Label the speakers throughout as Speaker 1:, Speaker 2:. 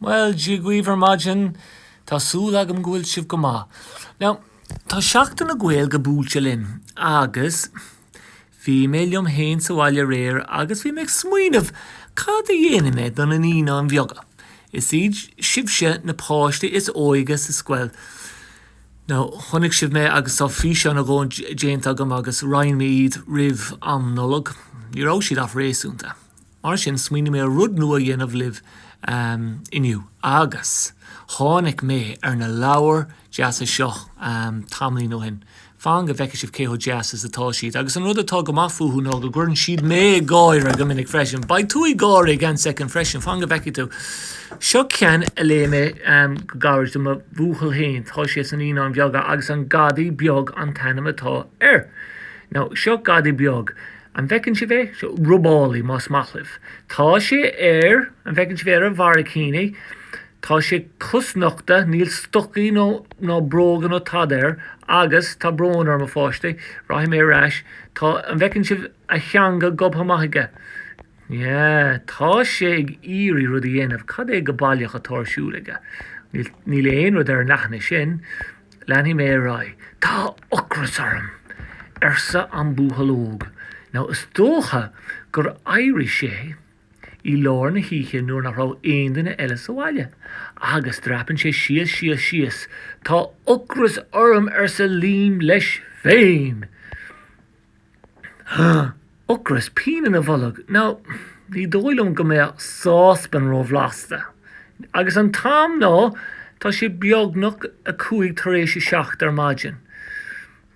Speaker 1: Bhuel, Dia dhaoibh ar maidin. Tá súil agam go bhfuil sibh go maith. Now, tá Seachtain na Gaeilge buailte linn agus bhí mé liom fhéin sa bhaile aréir agus bhí mé ag smaoineamh cad a dhéanfaidh mé do na Naíonáin Bheaga. Is iad sibhse na páistí is óige sa scoil. Now, chonaic sibh mé agus tá físeáin déanta agam agus roinn mé iad roimh an Nollaig. Ní raibh siad ach réasúnta. Mar sin smaoinigh mé rud nua a dhéanamh libh inniu agus tháinig mé ar na leabhair deasa seo tamaillín ó shin. Fan go bhfeicfidh sibh cé chomh deas is atá siad. Agus an rud atá go maith fúthu ná go gcuireann siad mé ag gáire go minic freisin. Beidh tú ag gáire i gceann soicind freisin, fan go bhfeicfidh tú. Seo ceann a léigh mé go gairid do mo bhuachaill féin, tá sé sna Naíonáin Bheaga agus An Gadaí Beag an t-ainm atá air. Now seo gadaí beag. An bhfeiceann sibh é? Seo robálaí más maith libh. Tá sé ar, an bhfeiceann sibh é, ar a bharraicíní. Tá sé cosnochta, níl stocaí ná bróga nó tada air agus, tá brón orm a pháistí, rachaidh mé ar ais, tá, an bhfeiceann sibh a theanga gobtha amach aige? Yeah, tá sé ag iarraidh rud a dhéanamh, cad é go baileach atá ar siúl aige? Níl aon rud ar an leathanach sin. Leanfaidh mé ar aghaidh. Tá ocras orm! arsa an buachaill óg. Now, is dócha gur éirigh sé i lár na hoíche nuair nach raibh aon duine eile sa bhaile, agus dreapann sé síos, síos, síos. Tá ocras orm! arsa Liam leis féin. Ugh! Ocras, pian ina bholg, now ní dóigh liom go mbeadh sáspan róbhlasta. Agus an t-am, ná tá sé beagnach a cúig tar éis a seacht ar maidin.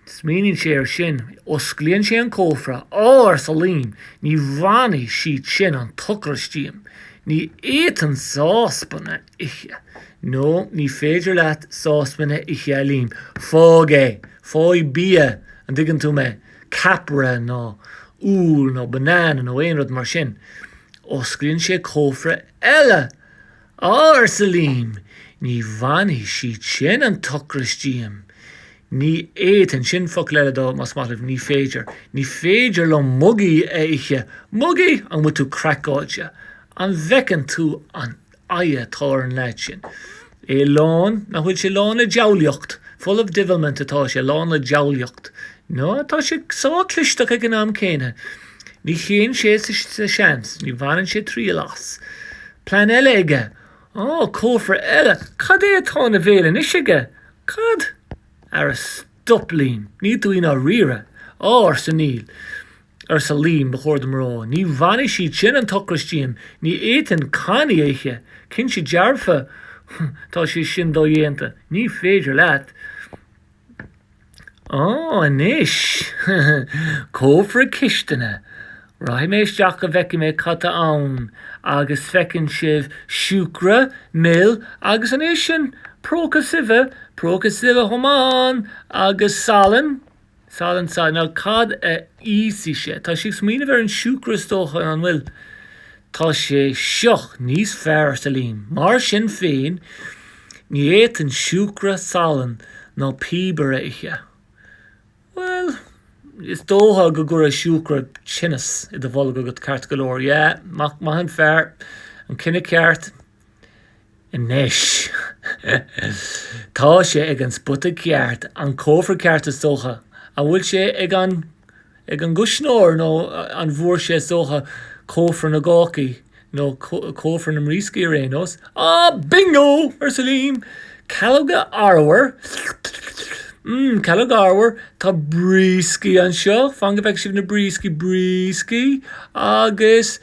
Speaker 1: Smaoiníonn sé ar sin. Osclaíonn sé an cófra. Á, arsa Liam, ní bhainfidh siad sin an t-ocras díom. Ní fhéadfainn sáspain a ithe. No, ní féidir leat sáspain a ithe a Liam. Fág é. Faigh bia, an dtuigeann tú mé? Ceapaire nó úll nó banana nó aon rud mar sin. Osclaíonn sé cófra eile. Á, arsa Liam, ní bhainfidh siad sin an t-ocras díom. Ní fhéadfainn sin, focal eile dó más maith libh, ní féidir. Ní féidir liom mugaí a ithe. Mugaí? An bhfuil tú craiceáilte? An bhfeiceann tú an aghaidh atá ar an leaid sin. É lán, nach bhfuil sé lán le diabhlaíocht. Full of divilment atá sé, lán le diabhlaíocht. Now tá sé sách clisteach ag an am céanna. Ní théann sé sa seans, ní bhaineann sé triail as. Plean eile aige. Á, cófra eile. Cad é atá ina bhéal anois aige? Cad? Ara stop Liam, níl tú i ndáiríre. Á, arsa Liam. arsa Liam, ba chóir dom a rá. Ní bhainfidh siad sin an t-ocras díom. Ní fhéadfainn cannaí a ithe. Cinnte dearfa tá sé sin dodhéanta. Ní féidir leat. Á, anois. Cófra cistine. Rachaidh mé isteach go bhfeicfidh mé cad tá ann. Agus feiceann sibh siúcra, mil agus an é sin próca suibhe, próca suibhe chomh maith ann, agus salann? Salann. So now, cad a íosfaidh sé. Tá sé ag smaoineamh ar an siúcra is dócha, an bhfuil? Tá sé seo níos fearr, arsa Liam. Mar sin féin, ní fhéadfainn siúcra, salann ná piobar a ithe. Bhuel, is dócha go gcuirfeadh siúcra tinneas i do bholg agat ceart go leor. Yeah, maith an fear, an cinneadh ceart. Anois tá sé ag an spota ceart, an cófra ceart is dócha. An bhfuil sé ag an ag an gcuisneoir nó an bhfuair sé is dócha cófra na gcácaí nó cófra na mbrioscaí ar aon nós. Á, Bingo! arsa Liam. Calóga arbhair. Mm, calóga arbhair. Tá brioscaí anseo. Fan go bhfeice sibh na brioscaí, brioscaí. Agus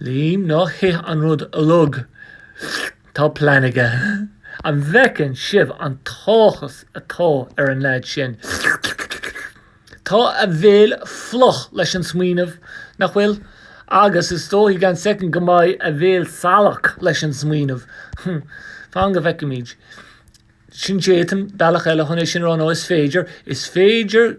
Speaker 1: Liam, Ná hith an rud uilig. Tá plean aige. An bhfeiceann sibh an t-áthas atá ar an leaid sin? Tá a bhéal fliuch leis an smaoineamh, nach bhfuil? Agus is dócha i gceann soicind go mbeidh a bhéal salach leis an smaoineamh. Fan go bhfeicfimid. Sin d'fhéadfainn, bealach eile chun é sin a rá, nó is féidir, is féidir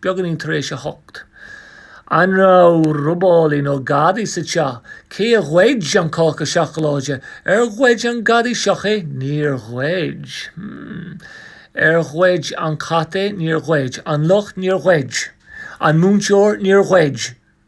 Speaker 1: Beagáinín tar éis a hocht. An raibh robálaí nó gadaí sa teach? Cé a ghoid an cáca seacláide? Ar ghoid an gadaí seo é? Níor ghoid. Hmm. Ar ghoid an cat é? Níor ghoid. An luch? Níor ghoid. An múinteoir? Níor ghoid.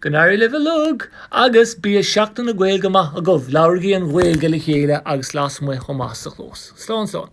Speaker 1: Go n-éirí libh uilig agus bíodh Seachtain na Gaeilge maith agaibh. Labhraigí an Ghaeilge le chéile agus lasmuigh chomh maith sa chlós. Slán, slán.